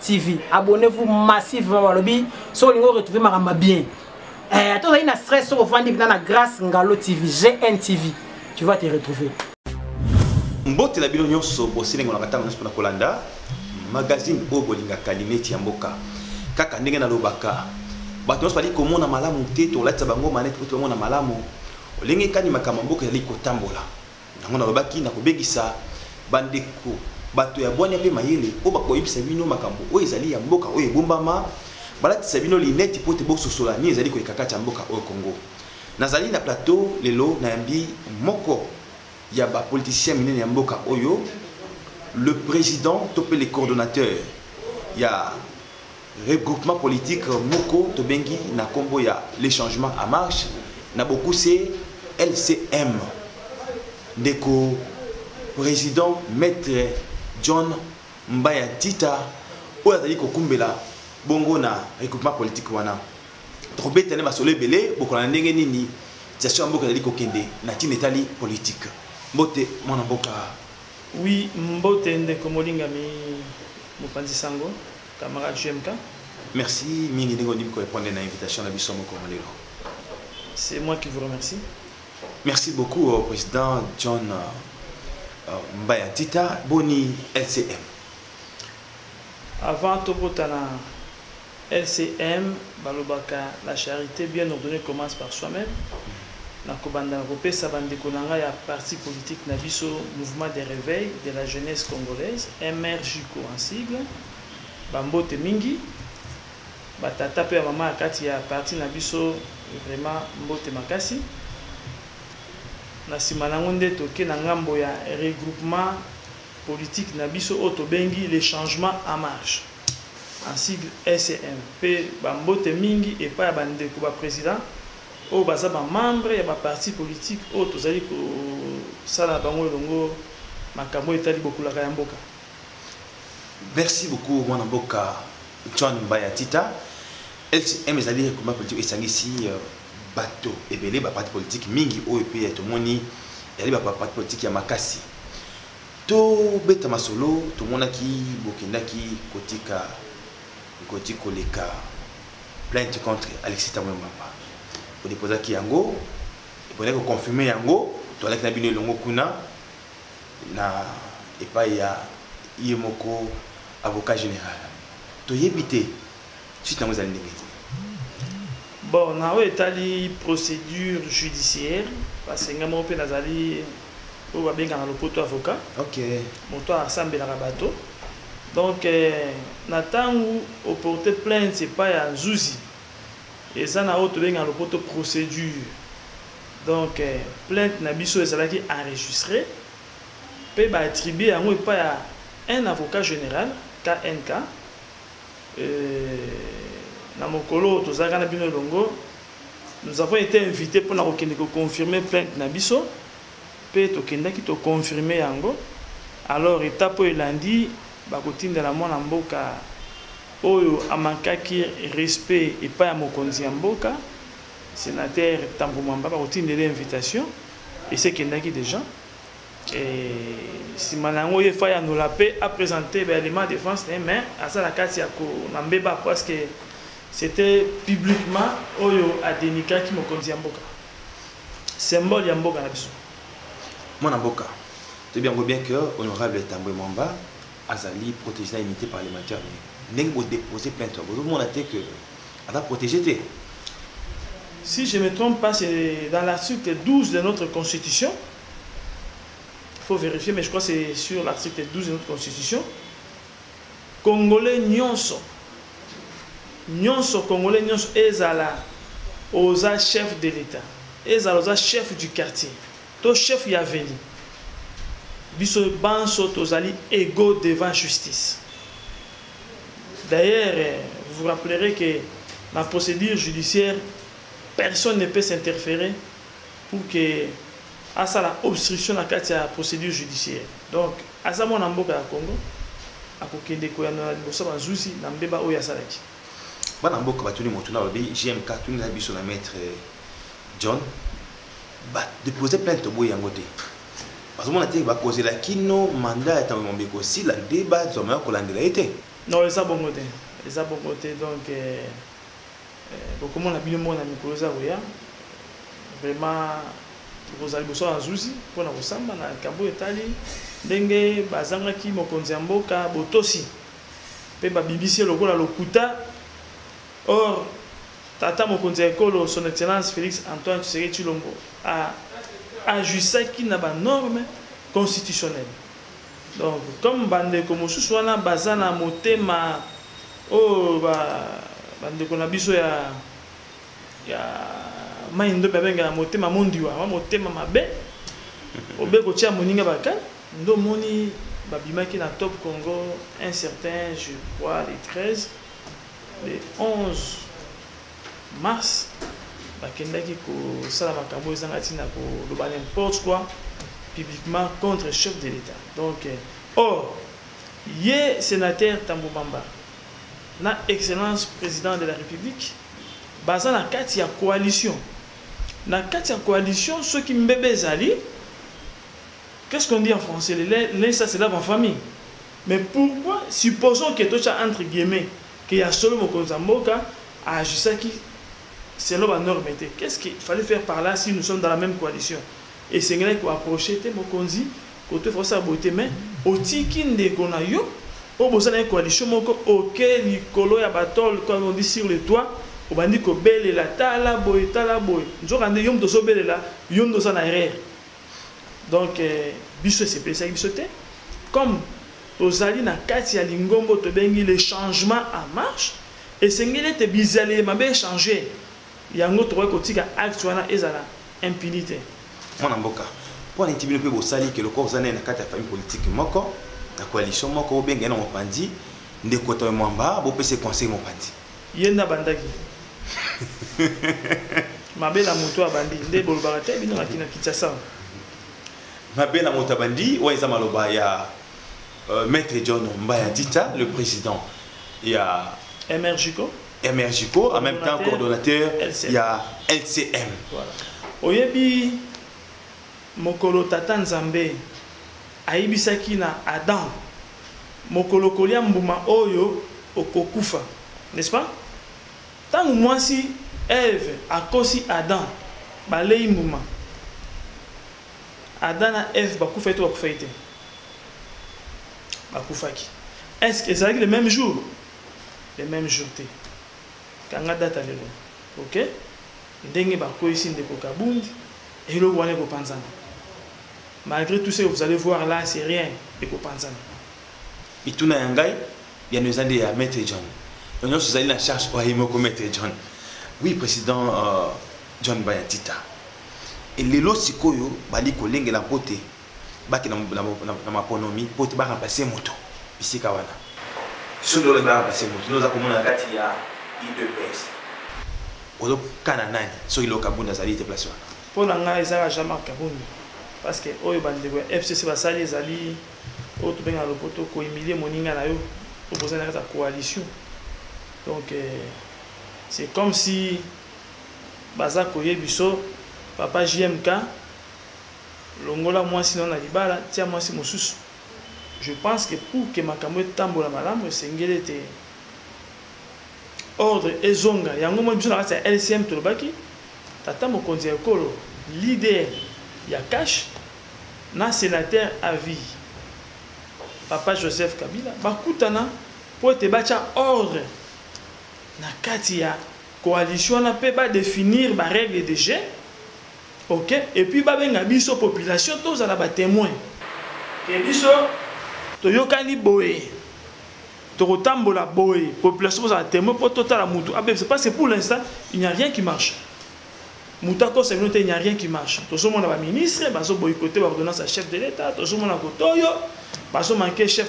TV. Abonnez-vous massivement balobi so olingo retrouver makambo bien. Eh ata ozali na stress soko ofandi bina na Grace Ngalo TV, GNTV. Tu vas te retrouver. Mbote na bino nyonso boselengonaka ntango nyonso mpona kolanda magazine oyo bolingaka lineti ya mboka kaka ndenge nalobaka bato nyonso bali komona malamu te tolatisa bango maneti mpo tomona malamu olenge kani makambo ya mboka ezali kotambola Yango nalobaki nakobengisa bandeko bato ya bwania mpe mayele oyo bakoyebisa bino makambo oyo ezali ya mboka oyo ebombama balatisa bino lineti mpo te bososola nini ezali koleka kati ya mboka oyo Congo. Nazali na plateau lelo nayambi moko ya bapoliticien minene ya mboka oyo le président to mpe le coordonnateur ya regroupement politique moko tobengi na nkombo ya le changement à marche na bokuse lcm ndeko président maître john mbaya tita oyo azali kokumbela bongo na regroupement politique wana tokobetane masolo ebele bokola na ndenge nini situation ya mboka ezali kokende na ntina etali politike mbote mwana mboka wi mbote ndeko molingami mopanzi sango Camarade JMK. Merci mingi ndenge ondimi ko répondre na invitation na biso moko lelo. C'est moi qui vous remercie. Merci beaucoup au euh, président John euh, euh, Mbaya Tita Boni LCM. Avant Tobotana LCM, Balobaka, la charité bien ordonnée commence par soi-même. Mm. Nakobanda na kopesa bandeko na ngai ya parti politique na biso Mouvement de reveil de la jeunesse congolaise, MRJCO en sigle, ba mbote mingi. Ba tata mpe ba mama ya kati ya parti na biso, vraiment mbote makasi. Na sima na yango nde toke na ngambo ya regroupement politique na biso oyo tobengi le changement en marche en sigle SEM. Mpe ba mbote mingi epai ya bandeko ba presidents. oyo baza ba membres ya ba partis politiques oyo tozali kosala na bango elongo makambo oyo etali bokulaka ya mboka. Merci beaucoup mwana mboka John Mbaya Tita. LCM ezali combat politique esangisi euh, bato ebele ba partis politiques mingi oyo mpe tomoni ezali ba partis politiques ya makasi. Tobeta masolo tomonaki bokendaki kotika nkoti koleka plainte contre Alexis Tambwe Mbamba. Vous déposez qui yango, et vous avez confirmé yango, tu as bino elongo kuna na epai ya ye moko avocat général. To yebite suite yango ezali ndenge Bon, na oyo etali procédure judiciaire, parce que nga moko pe nazali oyo babengaka lopoto avocat okay. moto asambelaka bato donc eh, na ntango oporte plainte epai ya nzuzi eza na oyo tobengaka lopoto procédure donc eh, plainte na biso ezalaki enregistré mpe baattribue yango epai ya un avocat général knk euh, na mokolo oyo tozalaka na bino elongo nous avons été invité pour na kokende ko confirmer plainte na biso pe tokendaki to confirmer yango alors étape oyo elandi bakotindela mwana mboka oyo amankaki respect epai ya mokonzi ya mboka sénateur Tambo Mamba bakotindela invitation esekendaki déjà nsima na yango ye fai anola mpe apresente baelement ya defense na ye mais aza na kati ya konambeba parce que C'etait publiquement oyo a denigraki mokonzi ya mboka. Symbole ya mboka na biso. Mwana mboka, toyebi yango bien que honorable Tambwe Mwamba azali protégé na immunité parlementaire mais ndenge bo déposer plainte wana bozomona te que aza protégé te. Si je ne me trompe pas, c'est dans l'article 12 de notre constitution. Il faut vérifier, mais je crois que c'est sur l'article 12 de notre constitution. Congolais nionso nionso congolais nionso ezala oza chef de l'etat ezala oza chef du quartier to chef ya veli biso banso tozali egaux devant justice d'ailleurs vous vous rappelerez que na procedure judiciaire personne ne peut s'interfere pour que asala obstruction na kati ya procedure judiciaire donc Aza mwana mboka ya Congo, akokende koyanola liboso ya bazuzi na mbeba oyo asalaki. Bana mboka batuni motuna balobi JMK tunela biso na maître John ba déposer plainte toboyi yango te. Bazomona te bakozela kino mandat ya Tambwe Mombe ekosila nde bazwa moya kolandela ye te. Non eza bongo te, eza bongo te donc. Euh, Eh, bokomona bino moko na mikolo eza koya vraiment kozala liboso ya zuzi mpo na kosamba na likambo oyo etali ndenge bazangaki mokonzi ya mboka botosi mpe babibisi ye lokola lokuta or tata mokonzi ya ekolo son excellence félix antoine tshiseke tshilombo ajuisaki na banorme constitutionnelle Donc comme bandeko mosusu wana baza na motema oyo oh, ba bandeko na biso ya ya mai ndobe abengaka motema mondiwa yango motema mabe obe kotia moninga baka nde omoni babimaki na top congo un certain je crois le 13 le 11 mars bakendaki kosala makambo ezanga ntina koloba n'importe quoi publiquement contre chef de l'état donc or ye sénateur tambo mamba na excellence président de la république baza na kati ya coalition na kati ya coalition soki mbebe ezali qu'est-ce qu'on dit en français le linge ça se lave en famille mais pourquoi supposons que totia entre guillemets que ya solo mokonzi ya mboka a agissaki selon ba normes te qu'est ce qu'il fallait faire par là si nous sommes dans la meme coalition esengelaki ko approcher te mokonzi koto efauti osala boye te mais otiki ndeko na yo oyo boza na ye coalition moko oke likolo ya ba tole comme on dit sur le toit obandi kobelela tala boye tala boye nzokande yo moto ozobelela yo nde oza na erreur donc eh, biso esepelisaki biso te comme tozali na kati ya lingombo tobengi le changement en marche esengeli ete bizaleli mabe echange yango tokoki kotika acte wana ezala impuni te mwana mboka mpo neti bino mpe bosali ke lokola oza naye na kati ya famille politike moko na coalition moko obenga ye na mopanzi ndeko tawe mwamba bopesa conseil mopanzi ye nde abandaki mabe na moto abandi nde bolobaka te bino na kinshasa mabe na moto abandi oyo eza maloba ya euh, maître john mbaya tita le président ya mrgico mrgico en même temps coordonnateur ya lcm voilà. oyebi Mokolo Tata Nzambe ayebisaki na Adam, Mokolo okolia mbuma oyo, okokufa. N'est-ce pas? Tango mwasi Eve akosi Adam, balei mbuma, Adam na Eve bakufaki to bakufaki te? Bakufaki. Est-ce que ezalaki le meme jour? Le meme jour te. Kanga data lelo. OK? Ndenge bakweyisi ndeko Kabund, Eloko wana ekopanzana. Malgre tout ce que vous allez voir là, c'est rien. Ekopanzana. Mituna ya ngai, biyano eza nde ya Maître John. Yo nyonso ozali na charge oyo moko Maître John. Oui, Président euh, John Bayatita. Et lelo sikoyo bali kolengela mpo te baki na, na, na, na maponomi mpo te baramplase moto bisika wana soki olobi baramplase moto nde oza komona na kati ya udps ozokana nani soki leo kabunda azali te place wana mpo na ngai ezalaka jean marc kabunda parce que oyo bandeko ya fcc basali ezali oyo tobenga na lopoto kohumilie moninga na yo oyo bozali na kati ya coalition donc euh, c'est comme si baza koyebi biso papa jmk longola mwasi na yo na libala tia mwasi mosusu je pense que pour que makambo etambola malamu esengeli ete ordre ezonga yango moi biso na kati ya lcm tolobaki tata mokonzi ya ekolo leader ya cash na sénateur à vie papa joseph kabila bakutana mpo ete batya ordre na kati ya coalition wana mpe badefinir barègle de jeu Ok et puis ba benga biso population to zala ba temoin ke biso to yokani boye to ko tambola boye population za temoin po to tala mutu abe c'est pas c'est pour l'instant il n'y a rien qui marche mutu ko c'est il n'y a rien qui marche to zo mona ba ministre ba zo boycotter ba ordonnance à chef de l'état to zo mona ko toyo ba zo manquer chef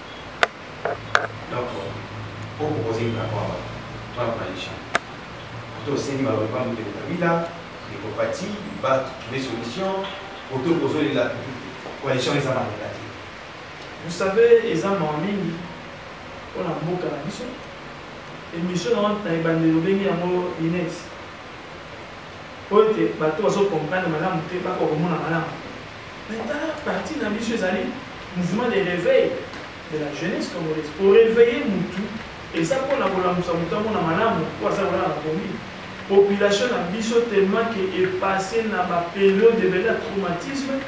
donc opokozi likambo awa mpo na koalition kutu osengi baloba moteko kabila ekopati ba trouve solution oto okozolela coalition eza malela te vous savez eza mawa mingi mpo na mboka na biso émission na na ebandeli obengi yango inete oyo ete bato bazokomprendre malamu te bakokomona malamu Mais tala parti na biso ezali mouvement de réveil de la jeunesse congolaise. Pour réveiller mutu eza mpo na kolamusa moto yango na malamu mpo aza kolala na komi population na biso tellement ke epasse na baperiode ebele ya traumatisme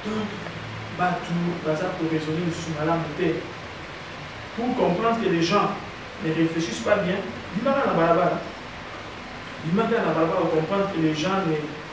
donc bato baza koraisonne lisusu malamu te pour comprendre que les gens ne réfléchissent pas bien bimaka na balabala bimaka na balabala ocomprendre que les gens ne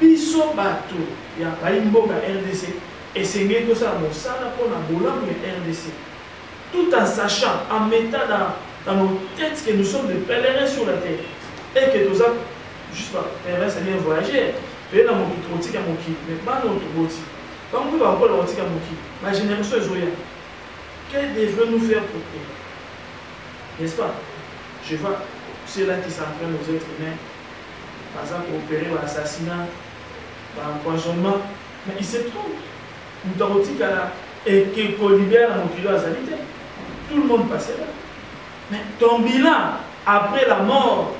Biso bato ya bayi mboka rdc esengeli tosala mosala mpo na bolamu ya rdc tout en sachant en mettant dans dans nos tetes que nous sommes des pèlerins sur la terre et que toza juste ba pèlerins c'est-à-dire un voyageur toye na mokili tokotika mokili mais bana oyo toboti bango mpe bakola bakotika mokili ba génération ezoya que devrait nous faire pour n'est-ce pas je vois ceux-là qui s'entraînent aux êtres humains baza ko opere ba assassinat ba empoisonnement mais il se trompe moto akotikala ekeko libere na mokili oyo azali te tout le monde passera mais ton bilan après la mort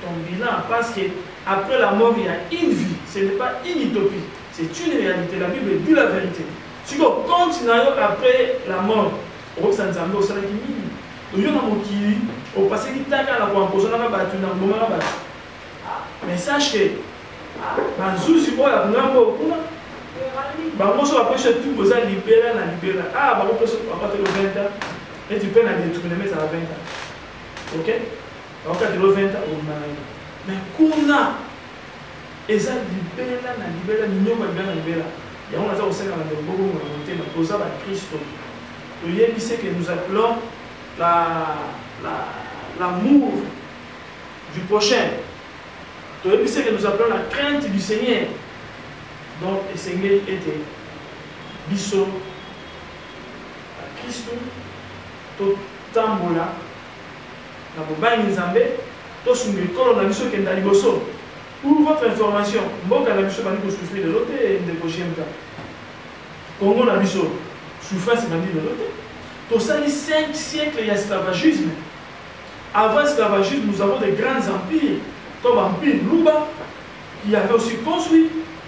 ton bilan parce que après la mort il y a une vie ce n'est pas une utopie c'est une réalité la bible dit la vérité sikoyo compte na yo après la mort Okokisa nzambe osalaki nini oyo na mokili opaseki taka na koankozanaka bato na kobomaka bato mais sache que bazuzi oyo ya ngambo kuna bango so bapesi etumbu eza libela na libela a bakopesa bakatelo 20 ans neti mpe na detournement ezala 20 ans ok bakatelo 20 ans obima na yo mais kuna Eza libela na libela minyoko ya libela na libela yango naza kosenga na ndeko bobongo na motema toza ba kristo toyebi se que nous appelons la la l'amour du prochain toyebi se que nous appelons la crainte du seigneur donc esengeli ete biso bakristo totambola na bobangi Nzambe, tosunga ekolo na biso ekenda liboso. Pour votre information, mboka na biso ebandi ko souffrir lelo te ndeko JMK. Congo na biso souffrance ebandi lelo te. Tosali 5 siècles ya esclavagisme. Avant esclavagisme, nous avons des grands empires comme empire Luba qui avait aussi construit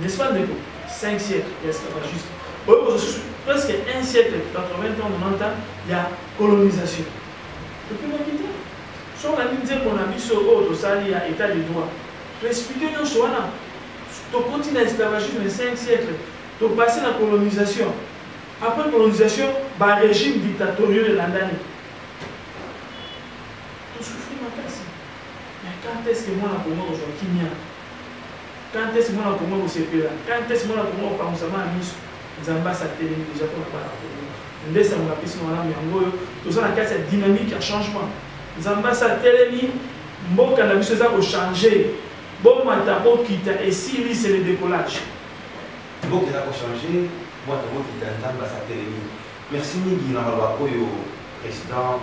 n'est-ce pas ndeko 5 siècle ya esclavagisme oyo kozwa susu presque un siècle 80 ans 90 ans ya colonisation topimaki te soki olandi nzembo na biso oyo tosali ya état de droit toexplike nyonso wana tokoti na esclavagisme 5 siècle topasse na colonisation après colonisation barégime dictatorial elandani tosufri makasi mais quand est ce que mwana kongo kozwa kimia Quand est-ce mwana Congo akosepela? Quand est-ce mwana Congo akopangusa ma miso? Nzambe asi atelemi deja mpo na bana Congo. Nde sango napesi na malamu yango oyo toza na kati ya dynamique ya changement. Nzambe asi atelemi, mboka na biso eza kochanger. Bomata bokita esili c'est le décollage. Mboka eza kochanger, bomata bokita Nzambe asi atelemi. Merci mingi na maloba oyo President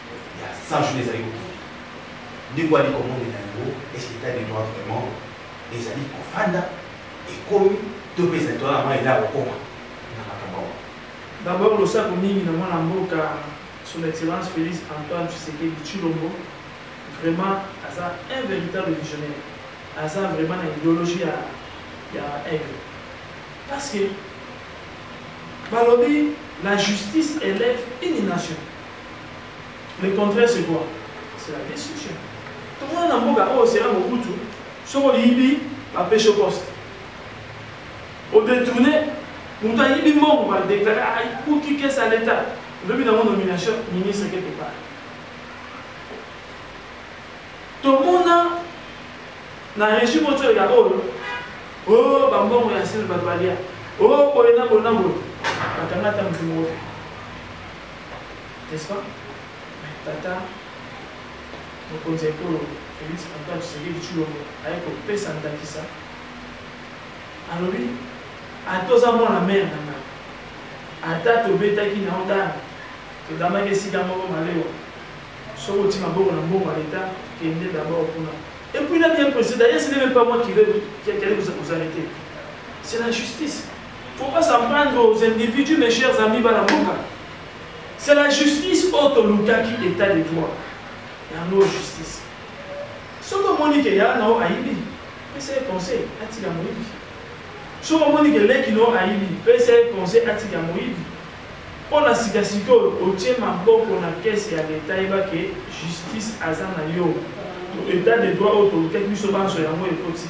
ya 100 jours ezali kokende ndeko ali komonela yango eske etat de droit vraiment ezali kofanda ekomi to mpe ezali tona na mwa ela kokoma na makambo yango dabord losako mingi na mwana mboka son excellence félix antoine tshisekedi tshilombo vraiment aza un véritable visionnaire aza vraiment na idéologie ya, ya aigle parce que balobi la justice élève une nation Le contraire c'est quoi C'est la destruction. Tout le monde a mboka oh c'est là Mobutu. Soko yibi a pêche au poste. Au détourné, mutu ayibi mbongo ba déclarer ah pour qui qu'est ça l'état. Lobi na nomination ministre quelque part. tomona na régime oyo toyoka oyo o oh, bambongo ya sili bato balia o oh, boye na boye na boye bakanga ata motu moko n'est-ce pas tata mokonzi ya ekolo félix antoine tshisekedi tshilombo aye kopesa ndakisa alobi ata oza mwana mare na ngai ata tobetaki na otana todamaki esika moko malewa soki oti maboko na mbongo ya leta kende dabord kuna epuis na bien précise d'ailleurs ce n'est même pas moi qui vais qui allez vous arrêter c'est la justice Faut pas s'en prendre aux individus, mes chers amis Banamuka. C'est la justice autolutaki état de droit. Il y a nos justice. Ce que moni que ya nao aibi, pesa conseil, atika moibi. Ce que moni que leki no aibi, pesa conseil, atika moibi. Pour la sikasiko, otie maboko na caisse ya l'État eba que justice azana yo. État de droit autolutaki biso banso yango ekoti.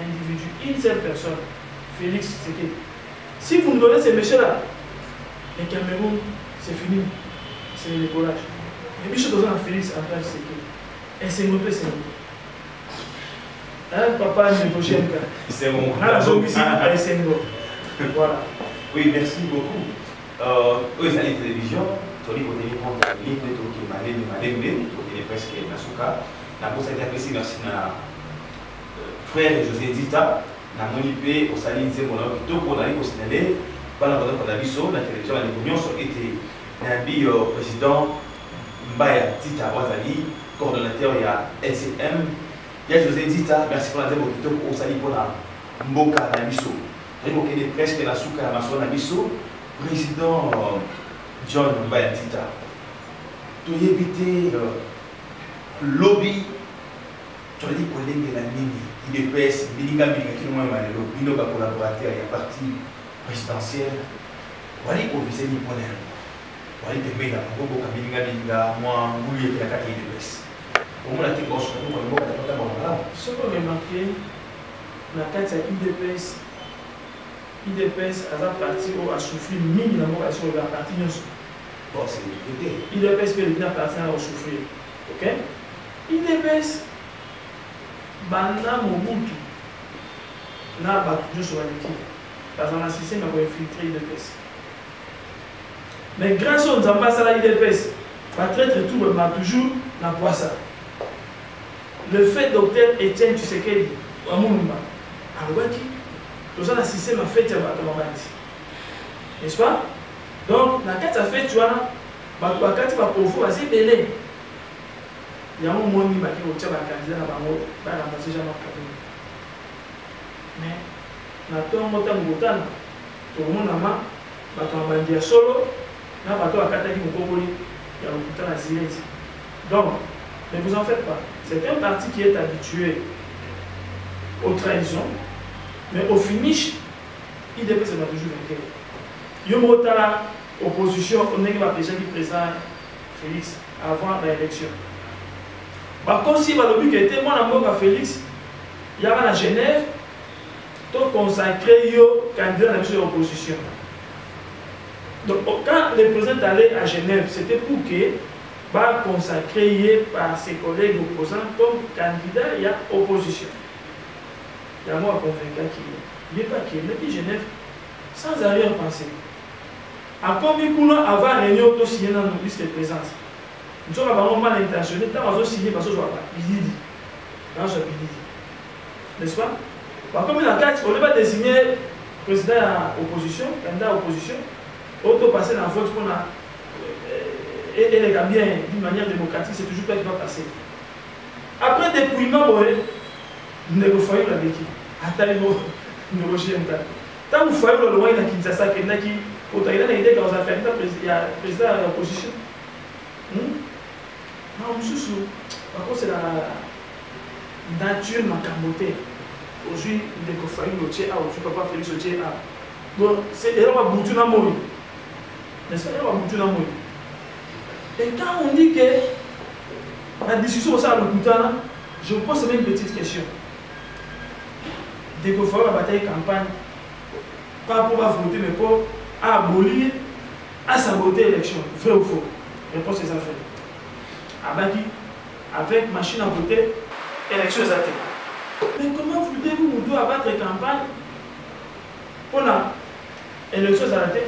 individu une seule personne Felix Tshisekedi. Si vous me donnez ces messieurs-là, les Cameroun, c'est fini. C'est le décollage. Mais Bishop Dozan Félix Antoine Tshisekedi. Et c'est notre c'est notre. Hein, papa, ne prochaine cas. C'est bon. Ah, je suis ici, c'est bon. Voilà. Oui, merci beaucoup. Euh, oui, c'est la télévision. toli koteli compte abili mpe tokende malembe malembe tokende presque na suka naposaki apesi merci na Frère José Dita, namoni mpe osali nzembo na yo kitoko, nali kosinale bana bandeko na biso na television bandeko nyonso ete nayebi yo président Mbaya Dita oyo azali coordonnateur ya LCM ya José Dita, merci mpo na nzembo kitoko osali mpo na mboka na biso. Toyei kokende presque na suka ya masolo na biso, président euh, John Mbaya Dita, toyebi te euh, lobi Tozali kolengela nini? Udps bilinga bilinga kino mwa ya lelo bino ba collaborateurs ya parti presidentiel wali kovize ni mpona yango wali pembeni na bango boka bilinga bilinga mwa ngulu yeke na kati ya udps omona te boso na boka mboka na kota bango malamu soki oremarke na kati ya udps udps aza parti oyo asouffrir mingi na mboka soki oza parti nyonso udps mpe eleki na parti yango asouffrir ok Udps banda Mobutu na batu nioso baleki bazala na système ya ko infiltre udps mais grace oyo nzambe asala udps ba traitre tout bamaka toujours na poisa le fait docteur etienne tshisekedi wa mulumba alobaki toza na système ya fete ya bato babandi n'est-ce pas donc na kati ya fete wana bato bakati baprofo baza ebele Yango omoni bake kotia ba candidats na bango ba remplacer Jean Marc Kabund. Mais na tongo tango botana tokomona ma bato ya mabandi ya solo na bato bakataki mokokoli ya lokuta na Zireti. Donc, ne vous en faites pas. C'est un parti qui est habitué aux trahisons, mais au finish, il devait se battre toujours vainqueur. Yo motala opposition ndenge bapesaki président Félix avant ba election bakosi balobi ke te mwana mboka félix yaka na genève to consacre yo candidat na biso ya opposition donc quand le président allait à genève c'était pour que ba consacre ye par ses collègues opposants comme candidat ya opposition yango akonvinkaki ye ye mpe akendaki genève sans arrière pensée Akomi kuna avant reunion to signer na notice de presence. Nzoka bango mal intentionné tant bazo signer bazo zwa bilili. Bazo bilili. N'est-ce pas? Bakomi na kati on va désigner président ya opposition, candidat ya opposition. Auto passer na vote pona euh, et les bien d'une manière démocratique, c'est toujours toi qui va passer. Après dépouillement boye ndeko fayu la beki. Atali bo ndeko chez mtaka. Tango Fayulu alongwaki na Kinshasa akendaki kotalela na idee kozala candidat ya president ya opposition. Hmm? Makambo mosusu bakosela nature makambo te. Ozwi ndeko Fayulu otie awa, ozwi papa Felix otie awa. Donc c'est eloko ya butu na moi. N'est-ce pas eloko ya butu na moi. Et quand on dit que la discussion au sein de je vous pose même une petite question. ndeko fao na bataki campagne pas mpo bavote mais mpo aboli ye asabote élection vrai ou faux réponse eza vrai abaki avec machine à voter élection eza te mais comment voulez vous moto abattre campagne mpo na élection ezala te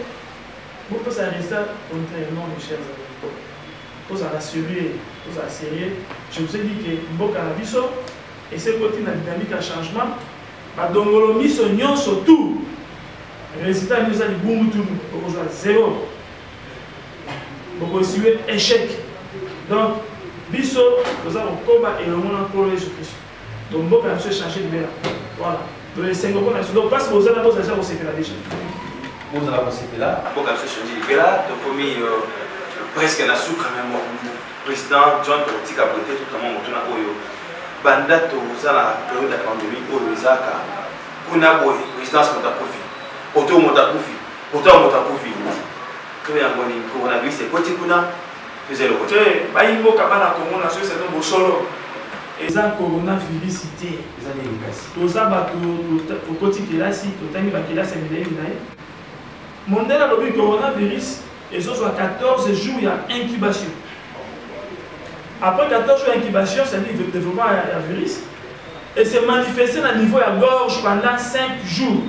bopesa résultat contraire non mes chers amis tozala sérieux tozala sérieux je vous ai dit que mboka na biso Ese ekoti na dynamique ya changement, ba dongolo miso nyonso tout. Resultat nini eza libungu tunu, okozwa zero. Bokoesiwe échec. Donc biso toza kokoba elongo na Nkolo Yesu Kristo. Donc mboka na biso echange libela. Voilà. Tole sengo pona biso. Donc pasi bozana boza za kosepela deja. Boza la kosepela. Boka biso shonji libela tokomi euh, presque na suka na mo président John Politika Bote tout le monde tuna oyo. Banda toza na période ya pandémie oyo ezaka kuna boye présidence moto akufi oto moto akufi oto moto akufi to yango ni coronavirus ekoti kuna eza eloko te bayi mboka bana kongo na soki ezali bosolo eza coronavirus te eza nini kasi toza bato tokoti kelasi totangi bakelasi ya milai milai mondele alobi coronavirus ezozwa 14 jours ya incubation après 14 jours ya incubation c'est-à-dire développement ya virus et se manifester na niveau ya gorge pendant 5 jours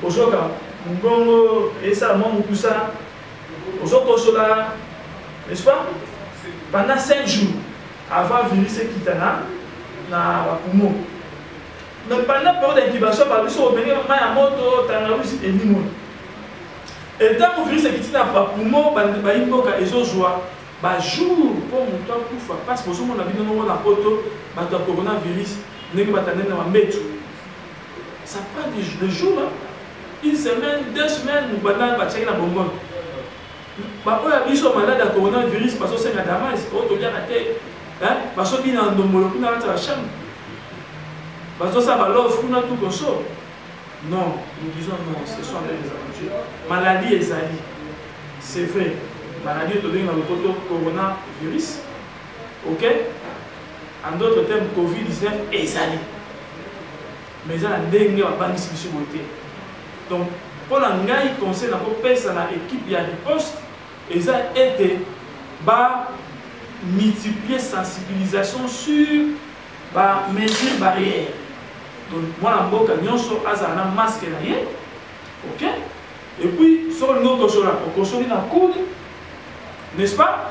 ozoka mongongo esala mwa mokusa ozo kosola n'est-ce pas pendant 5 jours avant virus ekita na na bakumo mais pendant période ya incubation babi soki omenge mai ya moto tangawizi elimoni ntango virus ekiti na bapumo bayi mboka ezozwa bajour mpo moto akufa mpasi bozomona bino nongo na poto bato ya coronavirus ndenge batandani na bambetu Ça prend du, le jour, hein? une semaine, deux semaines, nous banal va checker la bonbonne. baoyo ya biso malade ya coronavirus bazosenga damage oyo tolyaka te basoki na ndombolo kuna kati ya chambre bazosala balove kuna tu koso non nous disons non ce sont des aventures maladie ezali c'est vrai maladie oyo tobengi na lopoto coronavirus ok en d'autres termes covid 19 ezali mais eza na ndenge babangisi biso boye te donc mpo na ngai conseil na kopesa na équipe ya riposte eza ete ba multiplier sensibilisation sur ba mesure barrière donc mwana mboka nyonso azala na masque na ye ok et puis soki olingi okosola okosoli na coude n'est ce pas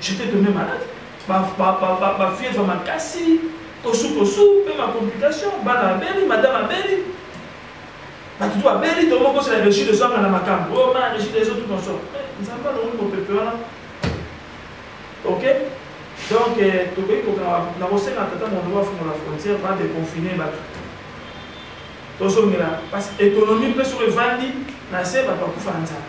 J'étais tombé malade. Ba ba ba ba, ba fièvre makasi, kosu kosu pe ma complication, bana abeli, madame abeli. Bato tu abeli to moko c'est la régie de zanga na makambo. Oh ma régie des autres consort. Eh, nzamba na ngo pepe wana. OK? Donc euh, tokoki ko na ko senga tata mon droit fond la frontière va de confiner bato. Tozongela parce que économie pe sur evandi na se bato akufa nzala.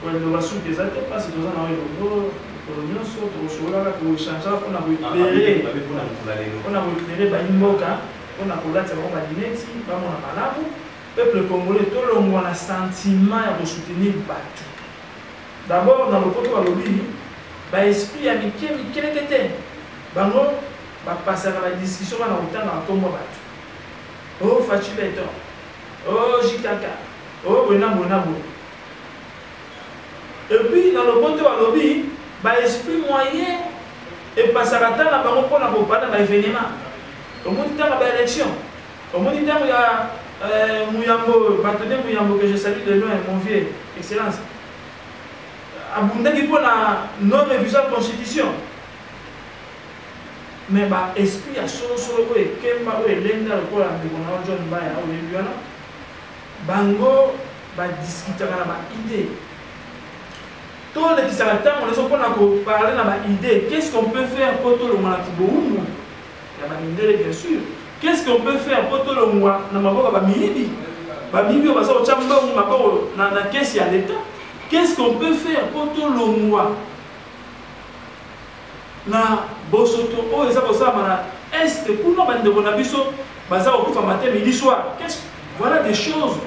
Pona liloba suki eza te pasi toza na oyo lobo mikolo nyonso tokosololaka tokoechangeaka mpona koeklere mpona koeklere bayi mboka mpona kolatisa bango balineti bamona malamu peuple congolais tolongwa na sentiment ya kosoutenir bato d'abord na lopoto balobi baesprit ya mike mikeleke te bango bapasaka badiscussion bana kotanga nkombo ya bato o oh, facibeton o oh, jikaka o oh, boye na boye na boye Et puis na lopoto balobi ba esprit moyen epasaka temps na bango mpo na kopana ba evenement omoni ntango ya ba élection omoni ntango ya euh, muyambo bato nde muyambo que je salue de loin mon vieux excellence abundaki mpo na non révision ya constitution me ba esprit ya solosolo oyo ekemba oyo elenda lokola ndeko na yo john mbaya oyebi wana Bango ba discutaka na ba idees. To lekisaka tango leso pona ko parler na ba idees. Qu'est-ce qu'on peut faire po to longwa na kibowumbu ya ba mindele bien sûr. Qu'est-ce qu'on peut faire po to longwa na maboka ba miyibi. Ba miyibi baza ko tya mbongo maboko na na caisse ya l'Etat. Qu'est-ce qu'on peut faire po to longwa na bosoto oyo eza kosalama na est kuna bandeko na biso baza kokufa matin midi soir qu'est-ce voilà des choses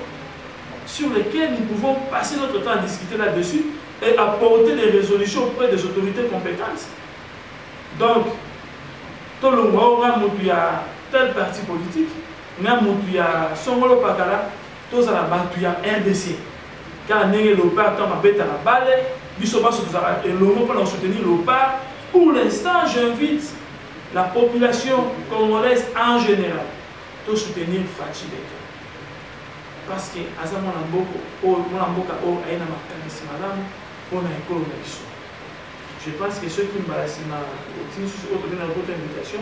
sur lesquelles nous pouvons passer notre temps à discuter là-dessus et apporter des résolutions auprès des autorités compétentes donc tolongwa oyo ngai motu ya tel parti politique ngai motu ya songolo pakala tozala bato ya rdc Tala ndenge Leopard ntango abetaka bale, biso banso tozalaka elongo mpo na kosoutenir Leopard. Pour l'instant, j'invite la population congolaise en général tosoutenir Fatshi Beton parce que aza mwana mboka oyo oh, mwana mboka oyo oh, aye na makanisi malamu mpo na ekolo na biso je pense que soki mbala nsima otindi susu oyo tobenga poto invitation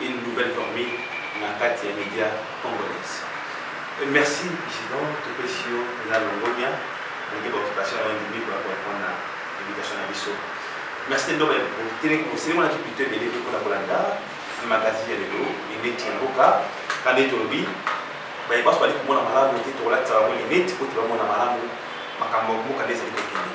Une nouvelle formule na kati ya media congolaise. Et merci président topesi yo na longonia ndenge baoccupation ya ondimi koya korepondre na invitation na biso. Merci ndoka ya osili mwana kipito ebele tokola kolanda na magazine ya lelo lineti ya mboka kande tolobi baye baso bali komona malamu te tokolatisa bango lineti po te bamona malamu makambo ya mboka nde ezali kokende